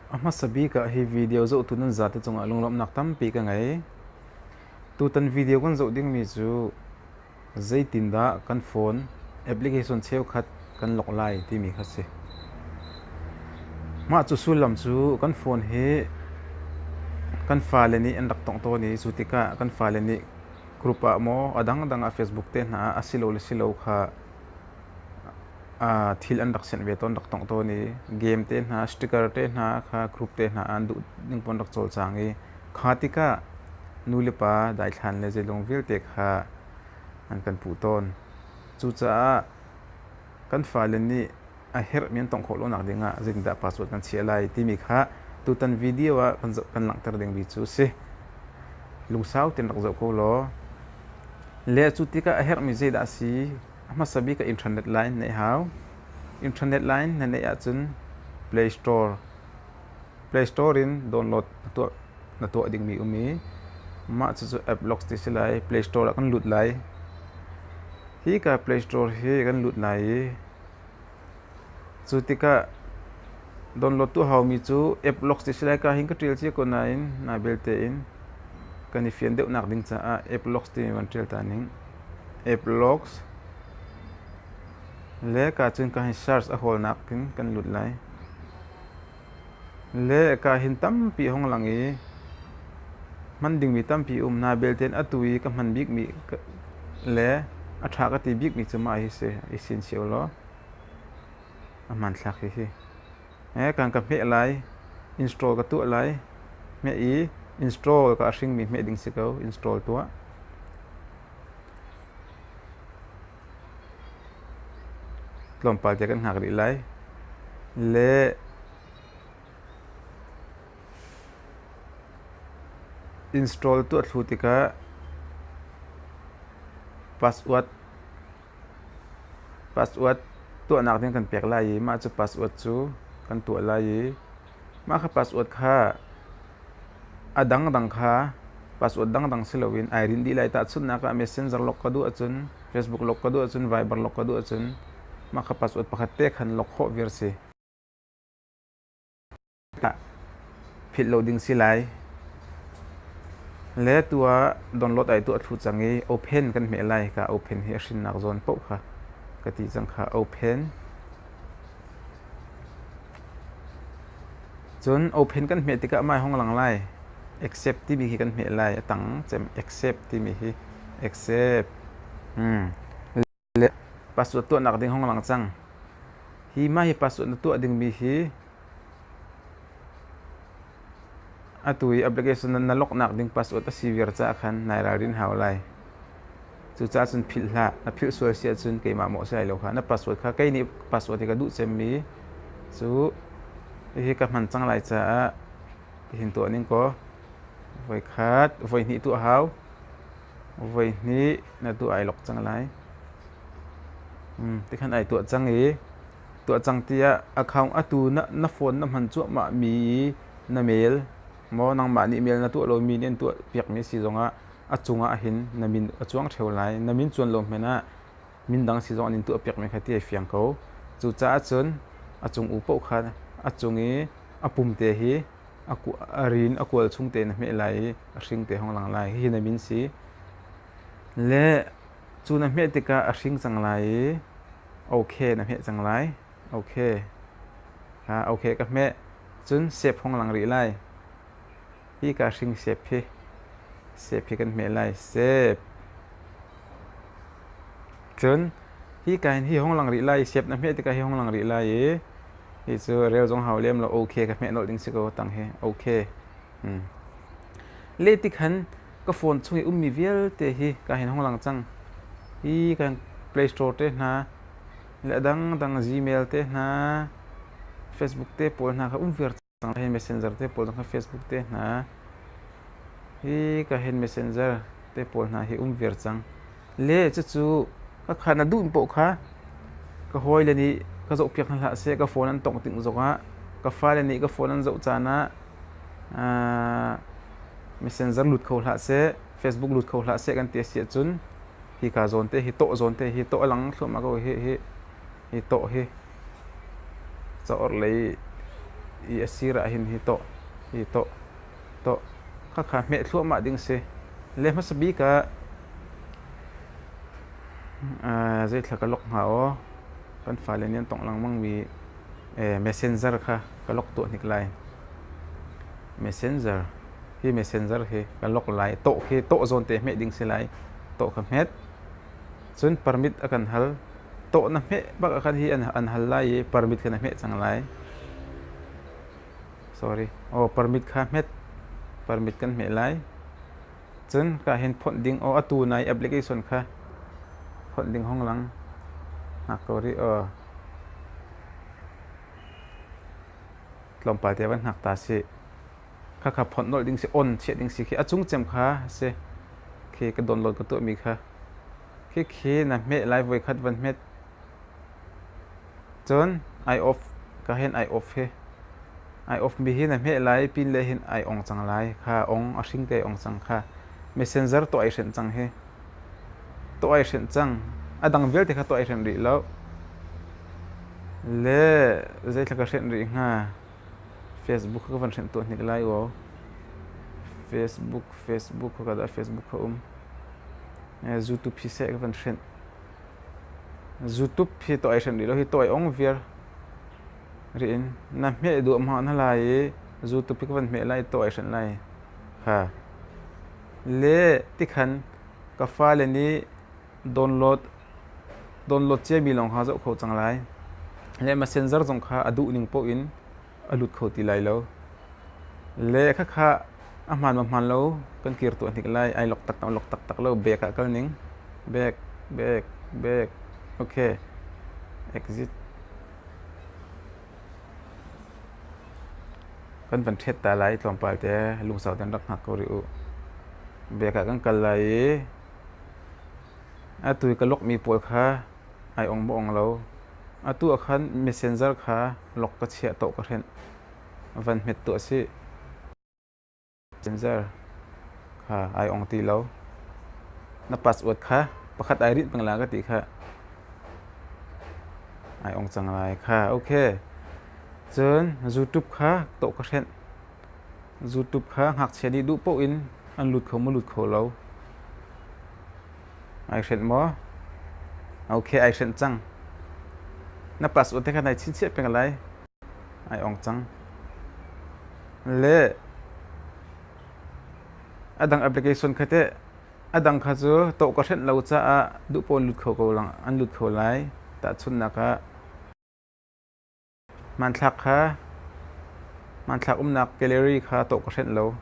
A hmasa bik ah hi video zohtu nan zate cungah lunglawmhnak tampi ka ngei. Tutan video kan zoh dingmi cu zeitindah kan phone application cheukhat kan lawk lai timi kha si. Mah cu sullam cu kan phone hi kan fale nih an rak tong tawn i cu tikah kan fale nih group ah maw a dangdang ah Facebook te hna ah asilole silo kha thil an rak sianh ve tawn, rak tongh tawn i game te hna, sticker te hna kha group te hna an duh ning pon rak cawlcang i kha tikah nulepa daithlan le zeilung vialte kha an kan puh tawn. Cucaah kan fale nih a herh mi an tongh khawh lonak ding ah zeitindah password kan chiah lai timi kha tutan video ah kan langhter ding mi cu si. Lungsau tein rak zoh ko law. Le cu tikah a herh mi zeidah a si a hmasa bika internet line neih hau. Internet line na neih ahcun Play Store Play Store in download na tuah na tuah dingmi um i mah cucu app locks ti si lai Play Store ah kan lut lai. Hi ka Play Store hi kan lut lai i Cu tikah donlawt tu haumi cu app lock si lai ka hin ka ṭial cia ko nain naa belte in kan i fian deuh nak ding caah app locks timi van ṭial ta ning. App locks le ka cun ka hin search a hawlnak in kan lut lai. le ka hin tampi hong lang i hman dingmi tampi um hna belte in atu i ka hman bikmi le a ṭha ka ti bikmi cu mah hi si i sin cio law a hmanthlak hi hi eh kan ka hmeh lai install ka tuah lai hmeh i install ka hringmi hmeh ding si ko install tuah tlawmpal te kan hngak rih lai. Le install tuah thlu tikah password password tuahnak ding kan pek lai i mah cu password cu kan tuah lai i Mah kha password kha a dangdang kha password dangdang si loin ai rinh dih lai. Tahchunhnak ah Messenger lawk ka duh ahcun, Facebook lawk ka duh ahcun, Viber lawk ka duh ahcun mah kha password pakhat te khan lawk khawh viar si. Philh lo ding si lai. Le tuah download ai tuah thlu cang i open kan hmeh lai. Ka open hi a hrinnak zawn paoh kha ka ti cang kha open. Cun open kan hmeh tikah mah hi hong lang lai. Accept timi hi kan hmeh lai. A tang cem accept timi hi accept. Hmm. Le password tuahnak ding hong lang cang. Hi mah hi password na tuah dingmi hi atu i application na lawknak ding password a si viar caah khan nai ralrin hau lai. Cucaah cun philh hlah. Na philh sual si ahcun keimah maw si lai lo kha. Na password kha kei nih password hi ka duh cemmi cu hihi ka hman cang lai caah hihin tuah ning kaw voi khat, voi hnih tuah hau. Voi hnih na tuah ai lok cang lai. Hmm, tikhan ai tuah cang i tuah cang tiah account atu na, na phone na hman cuahmahmi i na mail maw nangmah nih mail na tuah lomi nih an tuah piakmi si zongah a cungah hin na min a cuang ṭheo lai. Na min cuan lo hmanh ah mindang si zong an in tuahpiakmi kha ti ai fiang ko. Cucaah cun a cung u paoh kha a cung i a pumte hi a ku- a rin a kual chung te na hmeh lai i a hring te hong lang lai. Hihi na min si. Le cu na hmeh tikah a hring cang lai i okay na hmeh cang lai. Okay. Kha okay ka hmeh. Cun sep hong lang rih lai. Hika hringsep hi sep hi kan hmeh lai. Sep. Cun hika in hi hong lang rih lai i sep na hmeh tikah hi hong lang rih lai i hi cu reu zong hau lem lo okay ka hmeh nolh ding si ko tang hi okay. Hmm. Le tikhan ka phone chung i ummi vialte hi ka hin hong lang cang. Hi kan Play Store te hna le dangdang Gmail te hna Facebook te pawl hna ka um viar Nang hin messenger te pawl nang Facebook te hna hi ka hin messenger te pawl hna hi um viar cang le cucu ka kha na duh poh kha ka hawi le nih ka zoh piak hlah se ka phone an tongh ting zong ah ka fale nih ka phone an zoh caan ah messenger lut kho hlah se facebook lut kho hlah se kan ti a si ahcun hi ka zawn te hi toh zawn te hi toh a lang thluahmah ko hi hi hi tawh hi ca orhlei i a sir ah hin hi tawh hi tawh tawh khakha hmeh thluahmah ding si le hmasa bik ah zei thla ka lok hnga o kan fale nian tong langmang mi messenger kha ka lok tu hnik lai messenger hi messenger hi ka lok lai to hi to zon te hme ding si lai to kha hmet Cun permit a kan hal. Tawh na hmeh bak ah khan hi an hal lai i permit khan a hmeh cang lai. Sorry. Oh, permit kha hmet. Permit kan hmeh lai. Cun ka hin phawnh ding oh atu nai application kha phawnh ding hong lang. Ngak ko ri oh. Tlawmpal te van ngak ta si. khakha phawt nolh ding si on chiah ding si khi a cung cem kha si khi ka download ka tuah mi kha khi khi na hme lai voi khat van hmet cun eye off ka hen eye off hi eye off mi hi na hme lai pin le hin ai ong cang lai kha ong a hring te ong cang kha messenger to ai hrenh cang hi to ai hrenh cang a dang vialte kha to ai hrenh rih lo le zei thla ka hrenh rih hnga Facebook ka van hrem tuah hnik lai aw. Facebook, Facebook ka dah Facebook ka um. YouTube hi seh ka van hrem. YouTube hi to ai hrem di lo hi to ai ong viar. Ri in na hme du am ha na lai i YouTube hi ka van hme lai to ai hrem lai. Ha. Le tikhan ka fa le ni Download ciami lawng ha zoh khawh cang lai. Le messenger zong kha a duh ning poh in a lut kho ti lai lo. Le khakha a hmaan ma hmaan lo kan kir tuah hnik lai. Ai lok tak tam lok tak tak lo. Back ah kal ning. Back, back, back. Okay. Exit. Kan van thet ta lai tlawmpal te lungsau ten rak hngak ko ri u. Back ah kan kal lai i Atu i ka lawkmi pawl kha ai ong maw ong lo. Atu ah khan messenger kha lawk ka chiah tuah ka hrenh. Van hmet tuah sih. Messenger kha ai ong ti lo. Na password kha pakhat ai rinh peng la ka ti kha. Ai ong cang lai kha. Ok. Cun YouTube kha tuah ka hrenh. Zutup kha ngakchia nih duh paoh in an lut kho maw lut kho lo? Ai hrenh maw? Okay, ai hrenh cang. Na pass ute khan ai chinchiah peng lai. Ai ong cang. Le adang application kha te adang kha cu to ka hrenh lo caah duh pawn lut kho ko lang an lut kho lai. Tahchunnak ah Hmanthlak umnak gallery kha tawh ka hrenh lo.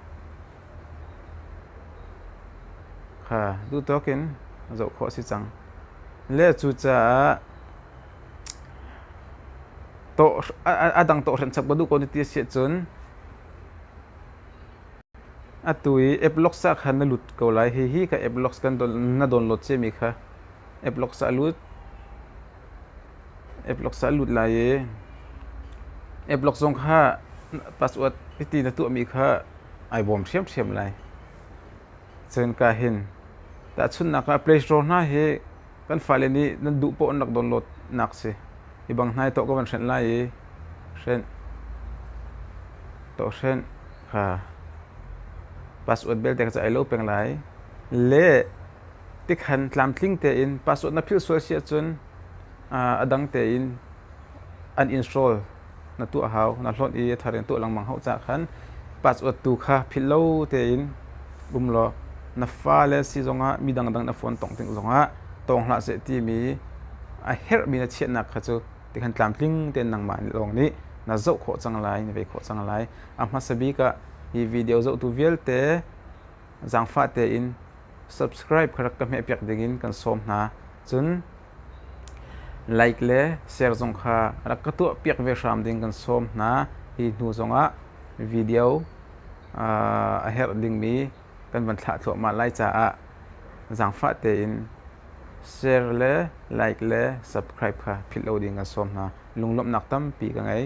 Duhtawk in zoh khawh a si cang. Le cucaah a dang tawhhrenh chap ka duh ko ti a si ahcun atu i app logs ah khan na lut ko lai. Hihi ka app logs na download ciami kha app logs ah a lut. Eplock sa a lut lai i eplock zong kha password hiti na tuahmi kha ai bawm ṭhiamṭhiam lai. Cun ka hin tahchunhnak ah Play Store hna hi kan fale nih nan duh paoh an rak downloadnak si. Hi bang hnai tuah ka van hrenh lai i hrenh, tuah hrenh kha password belte kha cu ai lo peng lai. Le tikhan tlamtling tein password na philh sual si ahcun a dang tein an install na tuah hau na hlawnh i a thar in tuah lengmang hau cah khan password tu kha philh lo tein um law na fale si zongah mi dangdang na phone tong ting zongah tong hlah seh timi a herhmi na chiahnak kha cu tikhan tlamtling tein nangmah lawng nih na zoh khawh cang lai na ve khawh cang lai a hmasa bik ah hi video zohtu vialte zaangfah tein subscribe kha rak ka hmehpiak dingin kan sawm hna. Cun like le share zong kha rak ka tuahpiak ve hram ding kan sawm hna. Hi hnu zongah video a herh dingmi kan van thlah thluahmah lai caah zaangfah tein share le like le subscribe kha philh lo ding kan sawm hna. Lunglawmhnak tampi ka ngei.